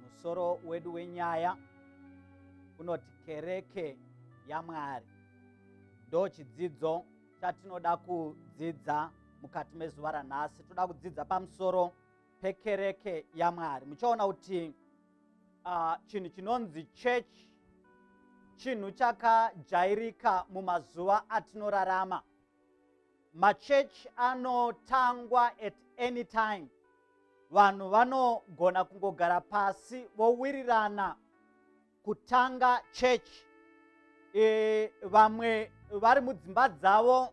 Musoro wedu wenyaya unoti kereke yaMwari. Ndo chidzidzo chatinoda kudzidza mukati mezuva ranhasi. Toda kudzidza pamusoro pekereke yaMwari. Muchaona kuti uh, chinhu chinonzi church chinhu chakajairika mumazuva atinorarama. machurch anotangwa at any time vanhu vanogona kungogara pasi vowirirana kutanga church e, vamwe vari mudzimba dzavo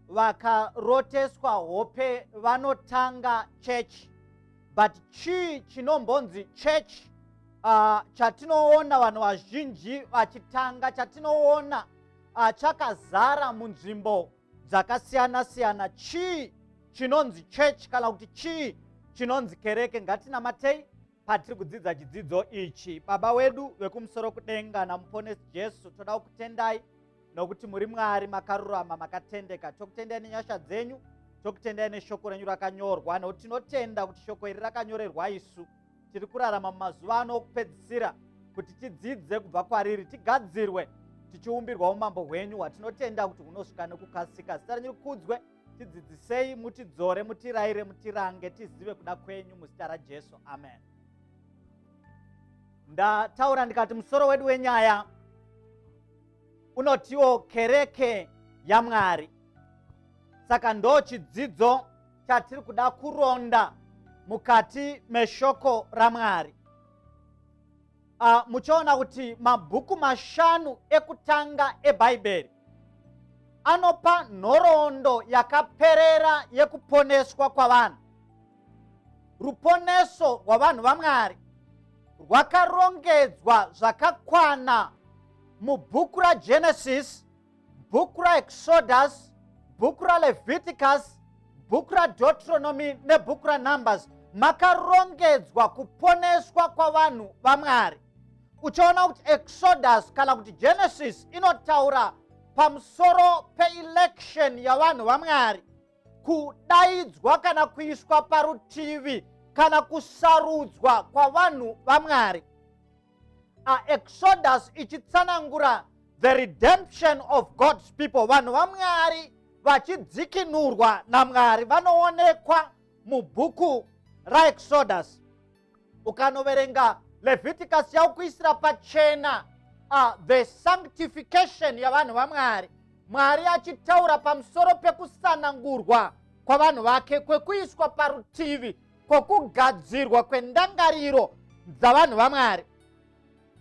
vakaroteswa hope vanotanga church but chii chinombonzi church uh, chatinoona vanhu vazhinji vachitanga chatinoona uh, chakazara munzvimbo dzakasiyana siyana chii chinonzi church kana kuti chii chinonzi kereke ngatinamatei patiri kudzidza chidzidzo ichi baba wedu vekumusoro kudenga namuponesi jesu toda kukutendai nokuti muri mwari makarurama makatendeka tokutendai nenyasha dzenyu tokutendai neshoko renyu rakanyorwa nokuti tinotenda kuti shoko iri rakanyorerwa isu tiri kurarama mumazuva ano okupedzisira kuti tidzidze kubva kwariri tigadzirwe tichiumbirwa umambo hwenyu hwatinotenda kuti hunosvika nekukasika zita renyu rikudzwe tidzidzisei mutidzore mutiraire mutirange tizive kuda kwenyu muzita rajesu amen ndataura ndikati musoro wedu wenyaya unotiwo kereke yamwari saka ndo chidzidzo chatiri kuda kuronda mukati meshoko ramwari uh, muchaona kuti mabhuku mashanu ekutanga ebhaibheri anopa nhoroondo yakaperera yekuponeswa kwavanhu ruponeso rwavanhu vamwari rwakarongedzwa zvakakwana mubhuku ragenesis bhuku raexodus bhuku raleviticus bhuku radetronomy nebhuku ranumbers makarongedzwa kuponeswa kwavanhu vamwari uchaona kuti exodus kana kuti genesis inotaura pamusoro peelection yavanhu vamwari kudaidzwa kana kuiswa parutivi kana kusarudzwa kwavanhu vamwari aexodus ichitsanangura the redemption of god's people vanhu vamwari vachidzikinurwa namwari vanoonekwa mubhuku raexodus ukanoverenga leviticus yaukuisira pachena uh, the sanctification yavanhu vamwari mwari achitaura pamusoro pekusanangurwa kwavanhu vake kwekuiswa parutivi kwokugadzirwa kwendangariro dzavanhu vamwari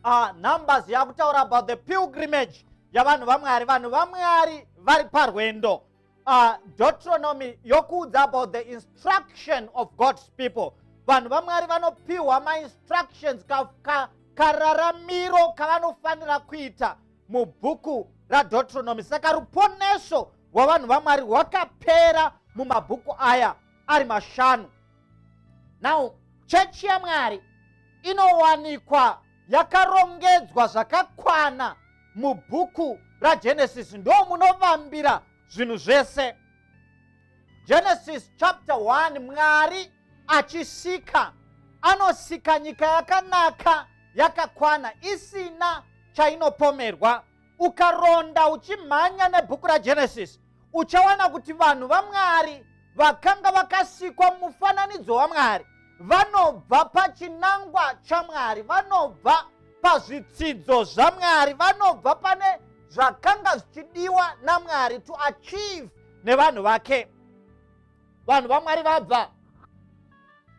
uh, numbers yakutaura about the pilgrimage yavanhu vamwari vanhu vamwari vari parwendo uh, deuteronomy yokuudza about the instruction of god's people vanhu vamwari vanopiwa mainstructions kararamiro ka, kavanofanira kuita mubhuku radeuteronomy saka ruponeso rwavanhu vamwari rwakapera mumabhuku aya ari mashanu now chechi yamwari inowanikwa yakarongedzwa zvakakwana mubhuku ragenesis ndo munovambira zvinhu zvese genesis chapter 1 mwari achisika anosika nyika yakanaka yakakwana isina chainopomerwa ukaronda uchimhanya nebhuku ragenesis uchawana kuti vanhu vamwari vakanga vakasikwa mufananidzo wamwari vanobva pachinangwa chamwari vanobva pazvitsidzo zvamwari vanobva pane zvakanga zvichidiwa namwari to achieve nevanhu vake vanhu vamwari vabva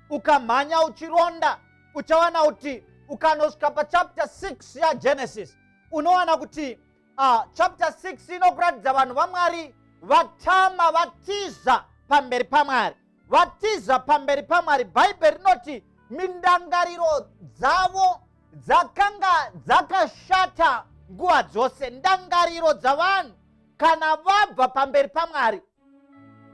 ukamhanya uchironda uchawana kuti ukanosvika pachapter 6 yagenesis unowana kuti uh, chapter 6 inokuratidza vanhu vamwari vatama vatiza pamberi pamwari vatiza pamberi pamwari bhaibheri rinoti mindangariro dzavo dzakanga dzakashata nguva dzose ndangariro dzavanhu kana vabva pamberi pamwari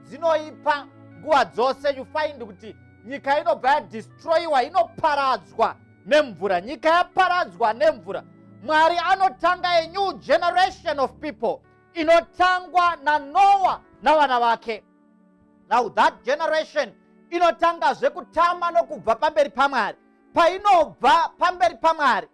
dzinoipa nguva dzose you find kuti nyika inobva yadistroyiwa inoparadzwa nemvura nyika yaparadzwa nemvura mwari anotanga a new generation of people inotangwa nanoa navana vake now that generation inotangazve kutama nokubva pamberi pamwari painobva pamberi pamwari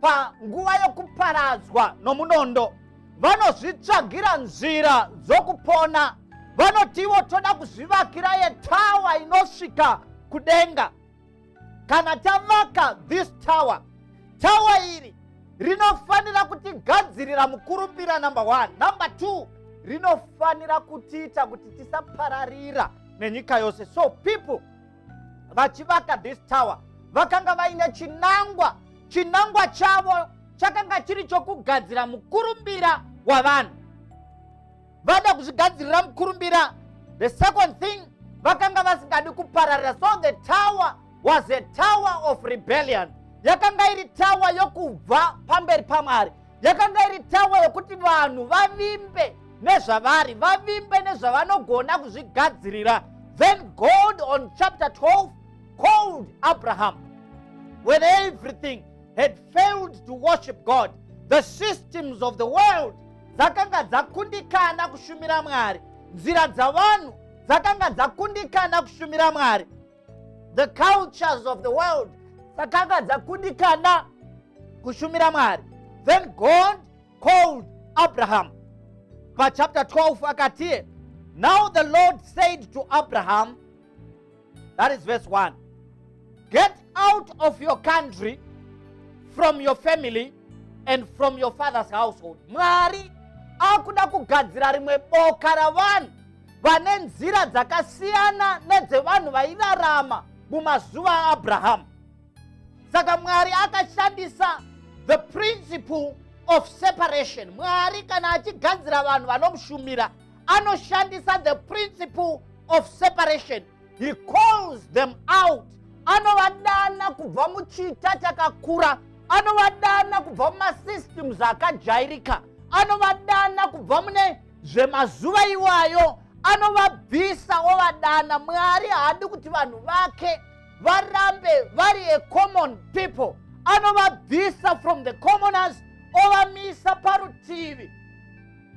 panguva yokuparadzwa nomunondo vanozvitsvagira nzira dzokupona vanotiwo toda kuzvivakira yetawa inosvika kudenga kana tavaka this tower tawa iri rinofanira kutigadzirira mukurumbira number one number two rinofanira kutiita kuti tisapararira nenyika yose so people vachivaka this tower vakanga vaine chinangwa chinangwa chavo chakanga chiri chokugadzira mukurumbira wavanhu vada kuzvigadzirira mukurumbira the second thing vakanga vasingadi kupararira so the tower was a tower of rebellion yakanga iri tower yokubva pamberi pamwari yakanga iri tawa yokuti vanhu vavimbe nezvavari vavimbe nezvavanogona kuzvigadzirira then god on chapter 12 called abraham when everything had failed to worship god the systems of the world dzakanga dzakundikana kushumira mwari nzira dzavanhu dzakanga dzakundikana kushumira mwari the cultures of the world dzakanga dzakundikana kushumira mwari then god called abraham pachapter 12 akatiye now the lord said to abraham that is verse 1 get out of your country from your family and from your father's household mwari akuda kugadzira rimwe boka ravanhu vane nzira dzakasiyana nedzevanhu vairarama mumazuva aabrahamu saka mwari akashandisa the principle of separation mwari kana achigadzira vanhu vanomushumira anoshandisa the principle of separation he calls them out anovadana kubva muchita chakakura anovadana kubva mumasystems akajairika anovadana kubva mune zvemazuva iwayo anovabvisa ovadana mwari haadi kuti vanhu vake varambe vari a common people anovabvisa from the commoners ovamisa parutivi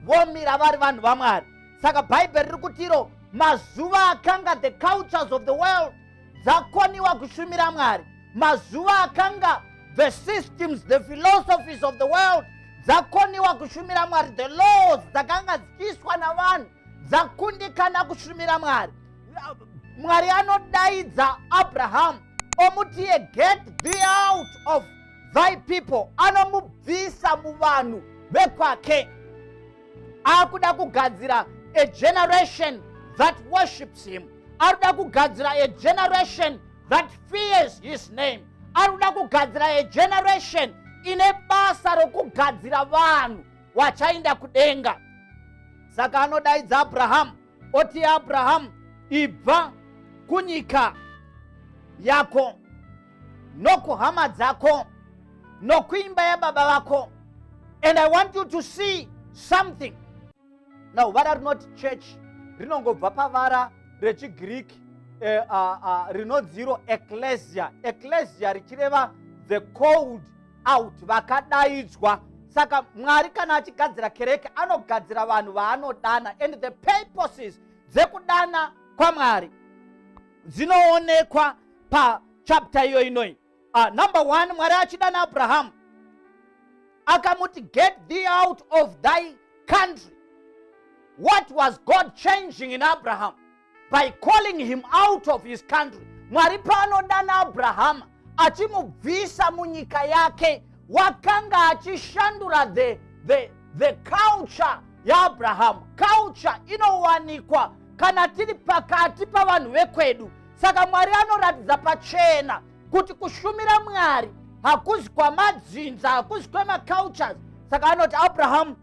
vomira vari vanhu vamwari saka bhaibheri riri kutiro mazuva akanga the cultures of the world dzakoniwa kushumira mwari mazuva akanga the systems the philosophies of the world dzakoniwa kushumira mwari the laws dzakanga dzichiiswa navanhu dzakundikana kushumira mwari mwari anodaidza abrahamu omuti ye get thee out of thy people anomubvisa muvanhu vekwake akuda kugadzira a generation that worships him ari kuda kugadzira a generation that fears his name ari kuda kugadzira a generation ine basa rokugadzira vanhu wachainda kudenga saka anodaidza abrahamu oti abrahamu ibva kunyika yako nokuhama dzako nokuimba yababa vako and i want you to see something now vara rinoti church rinongobva pavara rechigiriki eh, uh, ah, uh, ah, rinodziro eklesia eklesia richireva the cold out vakadaidzwa saka mwari kana achigadzira kereke anogadzira vanhu vaanodana and the purposes dzekudana kwamwari dzinoonekwa pachapta iyo inoi uh, number one mwari achida naabrahamu akamuti get thee out of thy country what was god changing in abraham by calling him out of his country mwari paanodana abrahama achimubvisa munyika yake wakanga achishandura the, the, the culture yaabrahamu culture inowanikwa kana tiri pakati pavanhu vekwedu saka mwari anoratidza pachena kuti kushumira mwari hakuzi kwamadzinza hakuzi kwemacultures saka anoti abrahamu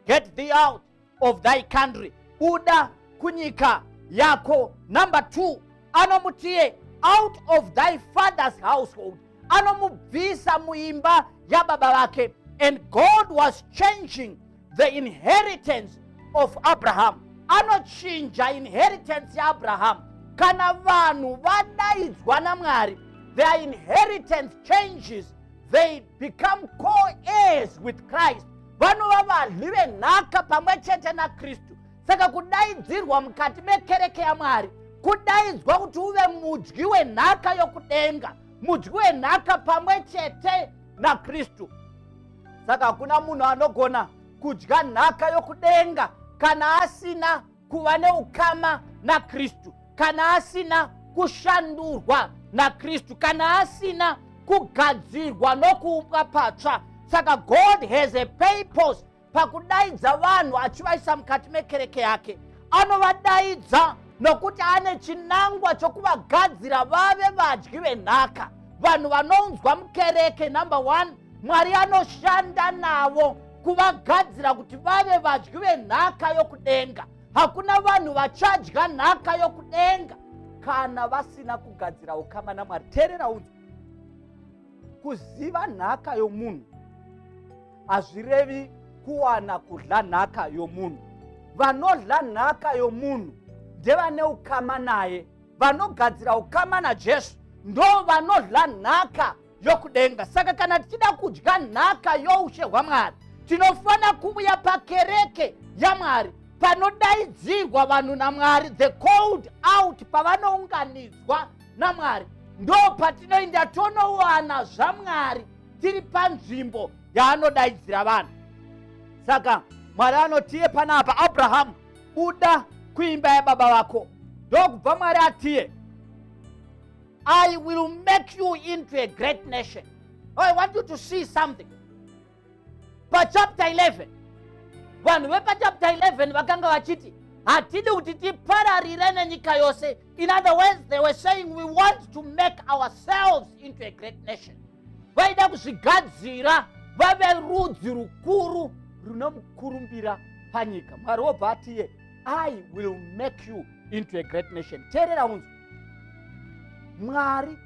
get thee out of thy country buda kunyika yako number two anomutie out of thy father's household anomubvisa muimba yababa vake and god was changing the inheritance of abraham anochinja inheritance yaabraham kana vanhu vadaidzwa namwari their inheritance changes they become co-heirs with christ vanova vadli venhaka pamwe chete nakristu saka kudaidzirwa mukati mekereke yamwari kudaidzwa kuti uve mudyi wenhaka yokudenga mudyi wenhaka pamwe chete nakristu saka hakuna munhu anogona kudya nhaka yokudenga kana asina kuva neukama nakristu kana asina kushandurwa nakristu kana asina kugadzirwa nokuumbwa patsva saka god has a purpose pakudaidza vanhu achivaisa mukati mekereke yake anovadaidza nokuti ane chinangwa chokuvagadzira vave vadyi venhaka vanhu vanounzwa mukereke number one mwari anoshanda navo kuvagadzira kuti vave vadyi venhaka yokudenga hakuna vanhu vachadya nhaka yokudenga kana vasina kugadzira ukama namwari teerera unzwa kuziva nhaka yomunhu hazvirevi kuwana kudla nhaka yomunhu vanodla nhaka yomunhu ndevane ukama naye vanogadzira ukama najesu ndo vanodla nhaka yokudenga saka kana tichida kudya nhaka youshe hwamwari tinofanira kuuya pakereke yamwari panodaidzirwa vanhu namwari the cold out pavanounganidzwa namwari ndo patinoinda tonowana zvamwari tiri panzvimbo yaanodaidzira vanhu saka mwari anotiye panapa abrahamu buda kuimba yababa vako ndokubva mwari atiye i will make you into a great nation i want you to see something pachapter 11 vanhu vepachapter 11 vakanga vachiti hatidi kuti tipararire nenyika yose in other words they were saying we want to make ourselves into a great nation vaida kuzvigadzira vave rudzi rukuru runomukurumbira panyika mwari wobva atiye i will make you into a great nation teerera unzi mwari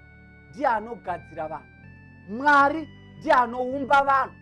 ndiye anogadzira vanhu mwari ndiye anoumba vanhu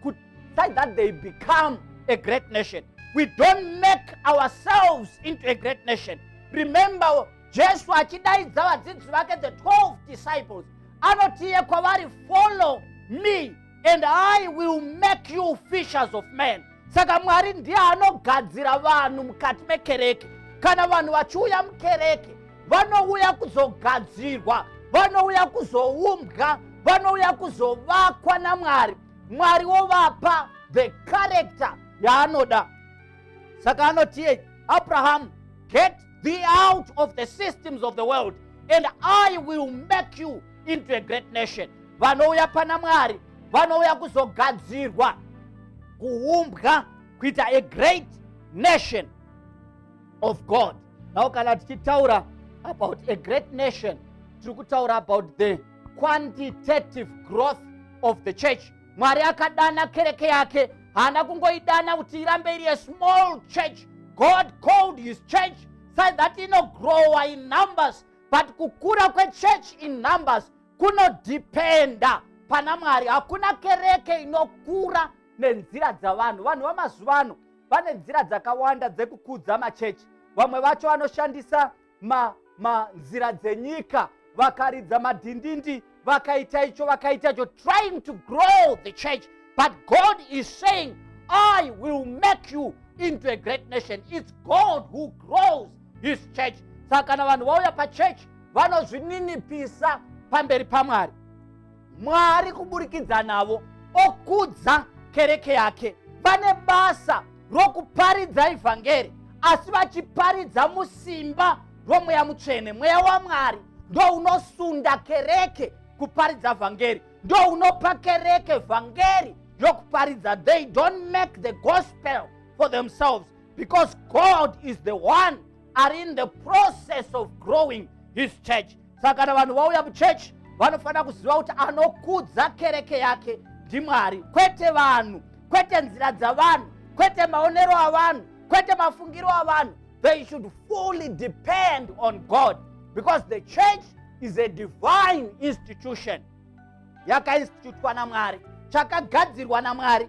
kuti so that they become a great nation we don't make ourselves into a great nation remember jesu achidaidza vadzidzi vake the 12 disciples anotiye kwavari follow me and i will make you fishers of men saka mwari ndiye anogadzira vanhu mukati mekereke kana vanhu vachiuya mukereke vanouya kuzogadzirwa vanouya kuzoumbwa vanouya kuzovakwa namwari mwari wovapa the character yaanoda saka anotiye abrahamu get be out of the systems of the world and i will make you into a great nation vanouya pana mwari vanouya kuzogadzirwa kuumbwa kuita a great nation of god now kana tichitaura about a great nation tiri kutaura about the quantitative growth of the church mwari akadana kereke yake haana kungoidana kuti irambe iri a small church god called his church so that inogrowa in numbers but kukura kwechurch in numbers kunodhipenda pana mwari hakuna kereke inokura nenzira dzavanhu vanhu vamazuva ano vane nzira dzakawanda dzekukudza machechi vamwe vacho vanoshandisa ma, ma nzira dzenyika vakaridza madhindindi vakaita icho vakaita icho trying to grow the church but god is saying i will make you into a great nation its god who grows his church saka kana vanhu vauya pachechi vanozvininipisa pamberi pamwari mwari kuburikidza navo okudza kereke yake vane basa rokuparidza ivhangeri asi vachiparidza musimba romweya mutsvene mweya wamwari ndo unosunda kereke kuparidza vhangeri ndo unopa kereke vhangeri yokuparidza they don't make the gospel for themselves because god is the one are in the process of growing his church saka kana vanhu vauya muchechi vanofanira kuziva kuti anokudza kereke yake ndimwari kwete vanhu kwete nzira dzavanhu kwete maonero avanhu kwete mafungiro avanhu they should fully depend on god because the church is a divine institution yakainstitutwa namwari chakagadzirwa namwari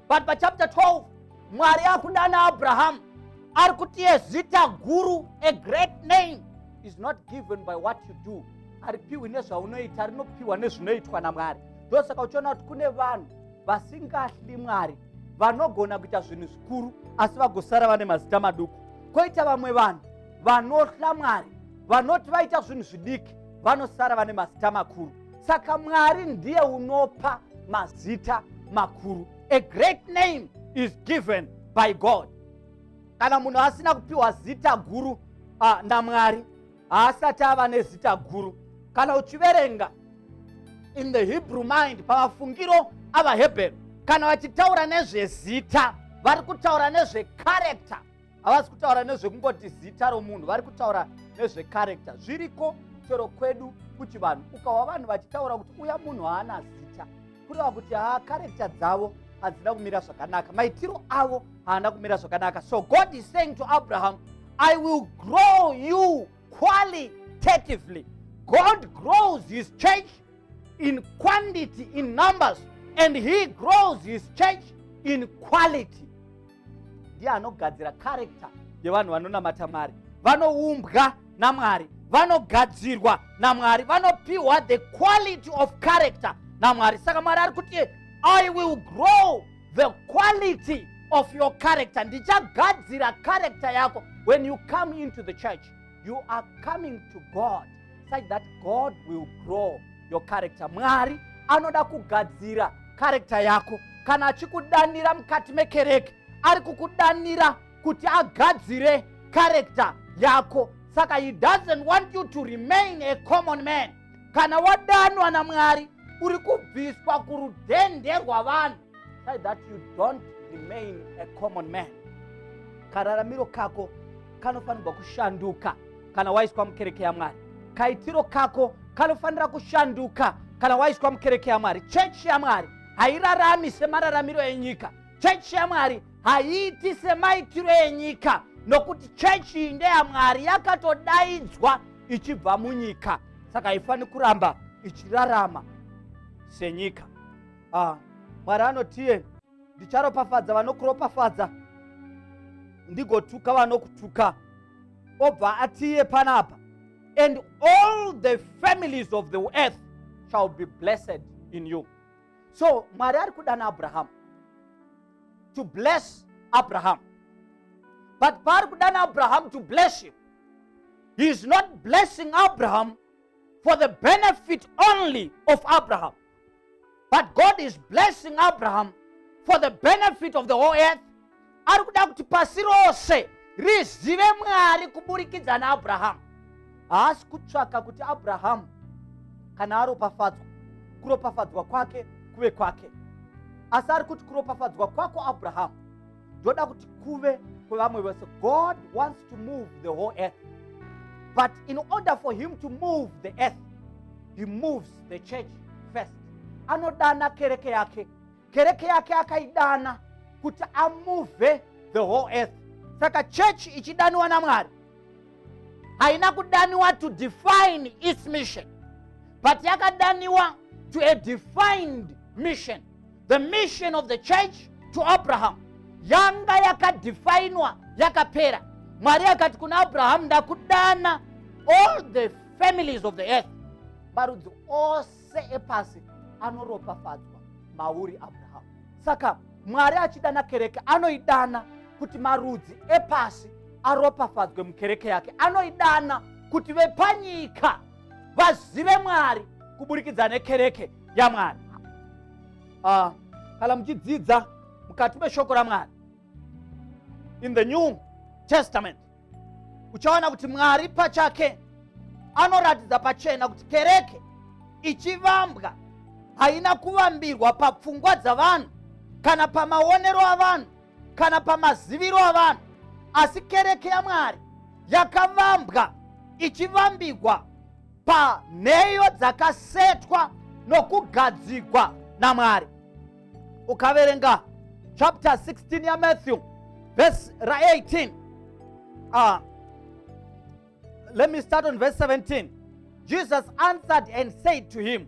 but pachapter 12 mwari akudana abrahamu ari kuti ezita guru a great name is not given by what you do haripiwi nezvaunoita rinopiwa nezvinoitwa namwari ndosaka uchiona kuti kune vanhu vasingahli mwari vanogona kuita zvinhu zvikuru asi vagosara vane mazita maduku koita vamwe vanhu vanohla mwari vanoti vaita zvinhu zvidiki vanosara vane mazita makuru saka mwari ndiye unopa mazita makuru a great name is given by god kana munhu asina kupiwa zita guru uh, namwari haasati ava nezita guru kana uchiverenga in the hebrew mind pamafungiro avahebheru kana vachitaura nezvezita vari kutaura nezvekarekta havasi kutaura nezvekungoti zita romunhu vari kutaura nezvekarekta zviriko chero kwedu kuchivanhu ukawa vanhu vachitaura kuti uya munhu haana zita kureva kuti haa karekta dzavo hadzina kumira zvakanaka maitiro avo haana kumira zvakanaka so god is saying to abraham i will grow you qualitatively god grows his church in quantity in numbers and he grows his church in quality ndiye anogadzira karekta yevanhu vanonamata mari vanoumbwa namwari vanogadzirwa namwari vanopiwa the quality of character namwari saka mwari ari kuti i will grow the quality of your character ndichagadzira character yako when you come into the church you are coming to god such that god will grow your character mwari anoda kugadzira karekta yako kana achikudanira mukati mekereke ari kukudanira kuti agadzire karekta yako saka he doesn't want you to remain a common man kana wadanwa namwari uri kubviswa kurudhende rwavanhu that you don't remain a common man kararamiro kako kanofanirwa kushanduka kana waiswa mukereke yamwari kaitiro kako kanofanira kushanduka kana waiswa mukereke yamwari chechi yamwari hairarami semararamiro enyika chechi yamwari haiiti semaitiro enyika nokuti chechi iyi ndeyamwari yakatodaidzwa ichibva munyika saka haifaniri kuramba ichirarama senyika ah, mwari anotiye ndicharopafadza vanokuropafadza ndigotuka vanokutuka obva atiye panapa and all the families of the earth shall be blessed in you so mwari ari kudana abrahamu to bless abrahamu but paari kudana abrahamu to bless him he is not blessing abrahamu for the benefit only of abrahamu but god is blessing abraham for the benefit of the whole earth ari kuda kuti pasi rose rizive mwari kuburikidza naabrahamu haasi kutsvaka kuti abrahamu kana aropafadzwa kuropafadzwa kwake kuve kwake asi ari kuti kuropafadzwa kwako abrahamu ndoda kuti kuve kwevamwe vese god wants to move the whole earth but in order for him to move the earth he moves the church first anodana kereke yake kereke yake akaidana kuti amuvhe the whole earth saka church ichidaniwa namwari haina kudaniwa to define its mission but yakadaniwa to a defined mission the mission of the church to abraham yanga yakadefinwa yakapera mwari akati kuna abrahamu ndakudana all the families of the earth marudzi ose epasi anoropafadzwa mauri abrahamu saka mwari achidana kereke anoidana kuti marudzi epasi aropafadzwe mukereke yake anoidana kuti vepanyika vazive mwari kuburikidza nekereke yamwari uh, kana muchidzidza mukati meshoko ramwari in the new testament uchaona kuti mwari pachake anoratidza pachena kuti kereke ichivambwa haina kuvambirwa papfungwa dzavanhu kana pamaonero avanhu kana pamaziviro avanhu asi kereke yamwari yakavambwa ichivambigwa panheyo dzakasetwa nokugadzigwa namwari ukaverenga chapter 16 yamatthew verse ra18 uh, ah, let me start on verse 17 jesus answered and said to him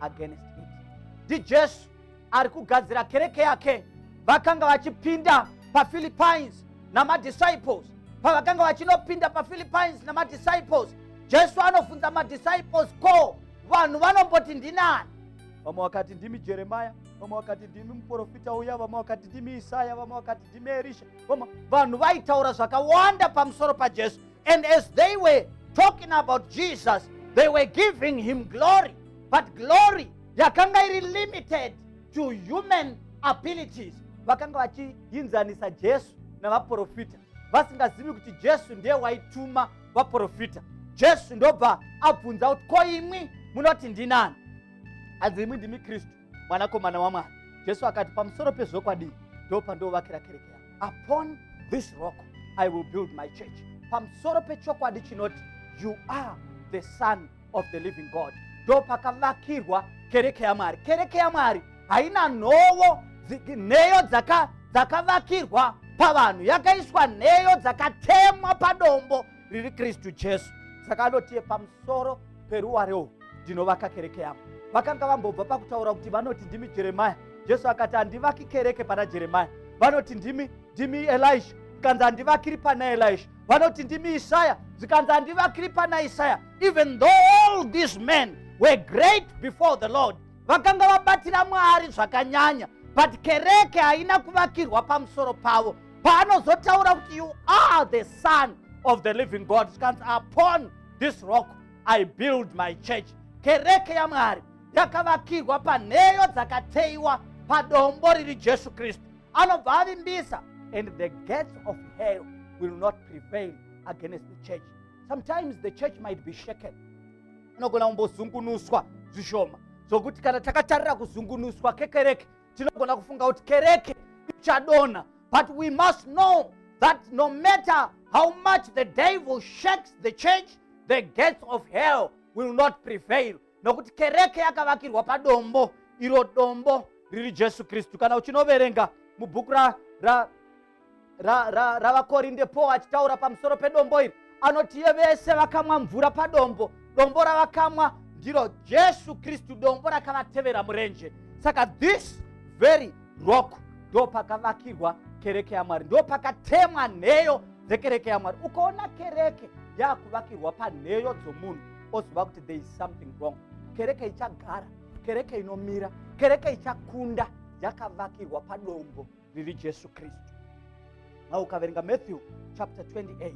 against it ndijesu ari kugadzira kereke yake vakanga vachipinda paphilippines namadisciples pavakanga vachinopinda paphilippines namadisciples jesu anobvunza madisciples ko vanhu vanomboti ndinani vamwe vakati ndimi jeremaya vamwe vakati ndimi muprofita uya vamwe vakati ndimi isaya vamwe vakati ndimi erisha vamwe vanhu vaitaura zvakawanda pamusoro pajesu And as they were talking about Jesus, they were giving him glory. But glory yakanga iri limited to human abilities. Vakanga vachiinzanisa Jesu navaprofita vasingazivi kuti Jesu ndiye waituma vaprofita. Jesu ndobva abvunza kuti ko imwi munoti ndinani? Hanzi imwi ndimi Kristu. mwanakomana wamwari jesu akati pamusoro pezvokwadi ndo pandovakira kereke yangu upon this rock i will build my church pamusoro pechokwadi chinoti you are the son of the living god ndo pakavakirwa kereke yamwari kereke yamwari haina nhovo nheyo dzakavakirwa pavanhu yakaiswa nheyo dzakatemwa padombo riri kristu jesu saka anotiye pamusoro peruware uhu ndinovaka kereke yangu vakanga vambobva pakutaura kuti vanoti ndimi jeremaya jesu akati handivaki kereke pana jeremaya vanoti ndimi ndimi elisha zvikanzi handivakiri pana elisha vanoti ndimi isaya zvikanzi handivakiri pana isaya even though all these men were great before the lord vakanga vabatira mwari zvakanyanya but kereke haina kuvakirwa pamusoro pavo paanozotaura kuti you are the son of the living god zvikanzi upon this rock i build my church kereke yamwari yakavakirwa panheyo dzakateyiwa padombo riri jesu kristu anobva avimbisa and the gates of hell will not prevail against the church sometimes the church might be shaken anogona kumbozungunuswa zvishoma zvokuti kana takatarira kuzungunuswa kekereke tinogona kufunga kuti kereke ichadonha but we must know that no matter how much the devil shakes the church the gates of hell will not prevail nokuti kereke yakavakirwa padombo iro dombo riri jesu kristu kana uchinoverenga mubhuku ra, ra ravakorinde ra, ra paul achitaura pamusoro pedombo iri anoti iye vese vakamwa mvura padombo dombo ravakamwa ndiro jesu kristu dombo rakavatevera murenje saka this very rock ndo pakavakirwa kereke yamwari ndo pakatemwa nheyo dzekereke yamwari ukaona kereke yakuvakirwa panheyo dzomunhu oziva kuti there is something wrong kereke ichagara kereke inomira kereke ichakunda yakavakirwa padombo riri jesu kristu now ukaverenga matthew chapter 28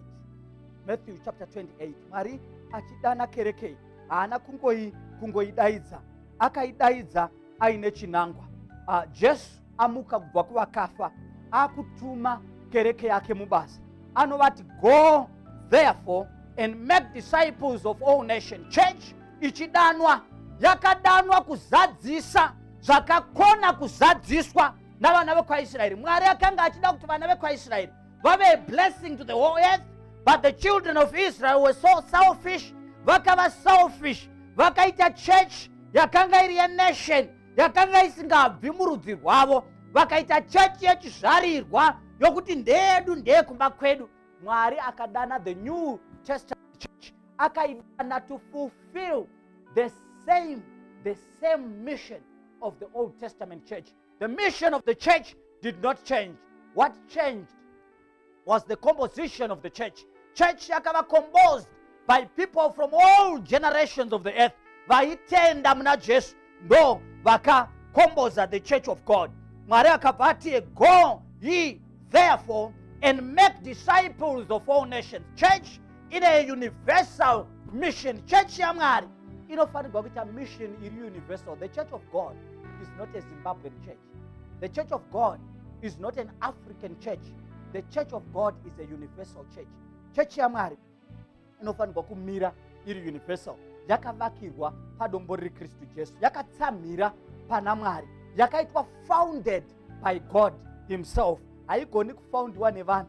matthew chapter 28 mwari achidana kerekei haana kungoi kungoidaidza akaidaidza aine chinangwa uh, jesu amuka kubva kuvakafa akutuma kereke yake mubasa anovati go therefore and make disciples of all nation church ichidanwa yakadanwa kuzadzisa zvakakona kuzadziswa navana vekwaisraeri mwari akanga achida kuti vana vekwaisraeri vave blessing to the whole earth but the children of israel were so selfish vakava selfish vakaita church yakanga iri yenation yakanga isingabvi murudzi rwavo vakaita chechi yechizvarirwa yokuti ndeyedu ndeye kumba kwedu mwari akadana the new testament church akaidana to fulfill the same the same mission of the Old Testament church. The mission of the church did not change. What changed was the composition of the church. Church yakava composed by people from all generations of the earth. Vaitenda muna Jesu ndo vakakomboza the church of God. Mwari akabva ati go ye therefore and make disciples of all nations. Church ine universal mission chechi yamwari inofanirwa kuita mission iri universal the church of god is not a zimbabwean church the church of god is not an african church the church of god is a universal church chechi yamwari inofanirwa kumira iri universal yakavakirwa padombo riri kristu jesu yakatsamhira pana mwari yakaitwa founded by god himself haigoni kufoundiwa nevanhu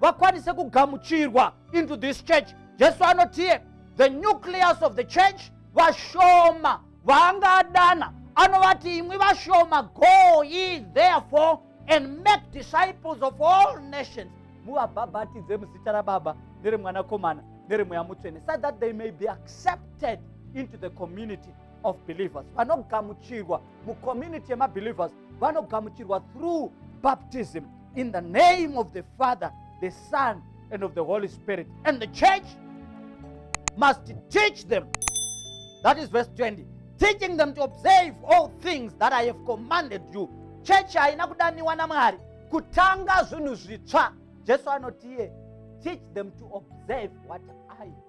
vakwanise kugamuchirwa into this church jesu anotiye the nucleus of the church vashoma vaanga adana anovati imwi vashoma go ye therefore and make disciples of all nations muvabhabhatidze muzita rababa neremwanakomana neremweya mutsvene so that they may be accepted into the community of believers vanogamuchirwa mucommunity yemabelievers vanogamuchirwa through baptism in the name of the father the son and of the holy spirit and the church must teach them that is verse 20 teaching them to observe all things that i have commanded you chechi haina kudaniwa namwari kutanga zvinhu zvitsva jesu anotiye teach them to observe what i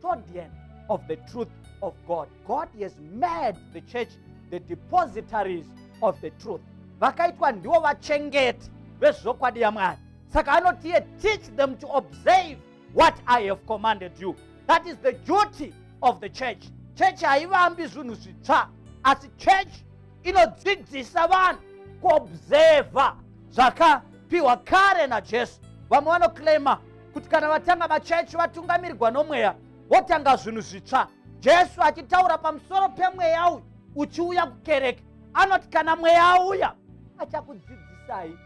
custodian of the truth of God. God has made the church the depositories of the truth. Vakaitwa ndiwo vachengeti vezvokwadi yaMwari. Saka anotiye teach them to observe what I have commanded you. That is the duty of the church. Church haivambi zvinhu zvitsva asi church inodzidzisa vanhu kuobserva zvakapiwa kare naJesu. Vamwe vanoclaima kuti kana vatanga vachechi vatungamirirwa nomweya votanga zvinhu zvitsva jesu achitaura pamusoro pemweya uyu uchiuya kukereke anoti kana mweya auya achakudzidzisai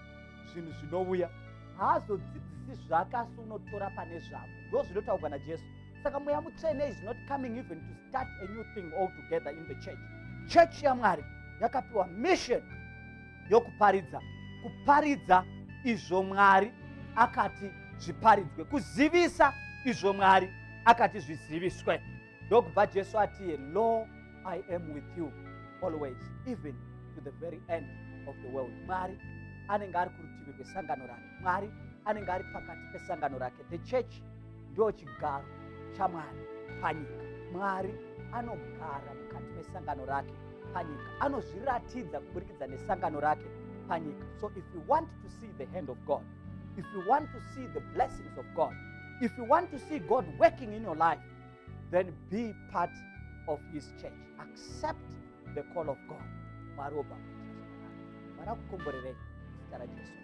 zvinhu zvinouya haazodzidzisi zvake asi unotora pane zvavo ndo zvinotaurwa najesu saka mweya mutsvene is not coming even to start a new thing all together in the church church yamwari yakapiwa mission yokuparidza kuparidza izvo mwari akati zviparidzwe kuzivisa izvo mwari akati zviziviswe ndokubva jesu atiye lo i am with you always even to the very end of the world mwari anenge ari kurutivi rwesangano rake mwari anenge ari pakati pesangano rake the church ndo chigaro chamwari panyika mwari anogara mukati mesangano rake panyika anozviratidza kuburikidza nesangano rake panyika so if you want to see the hand of god if you want to see the blessings of god if you want to see god working in your life then be part of his church accept the call of god mwari obva mwari akukomborerei zita rajesu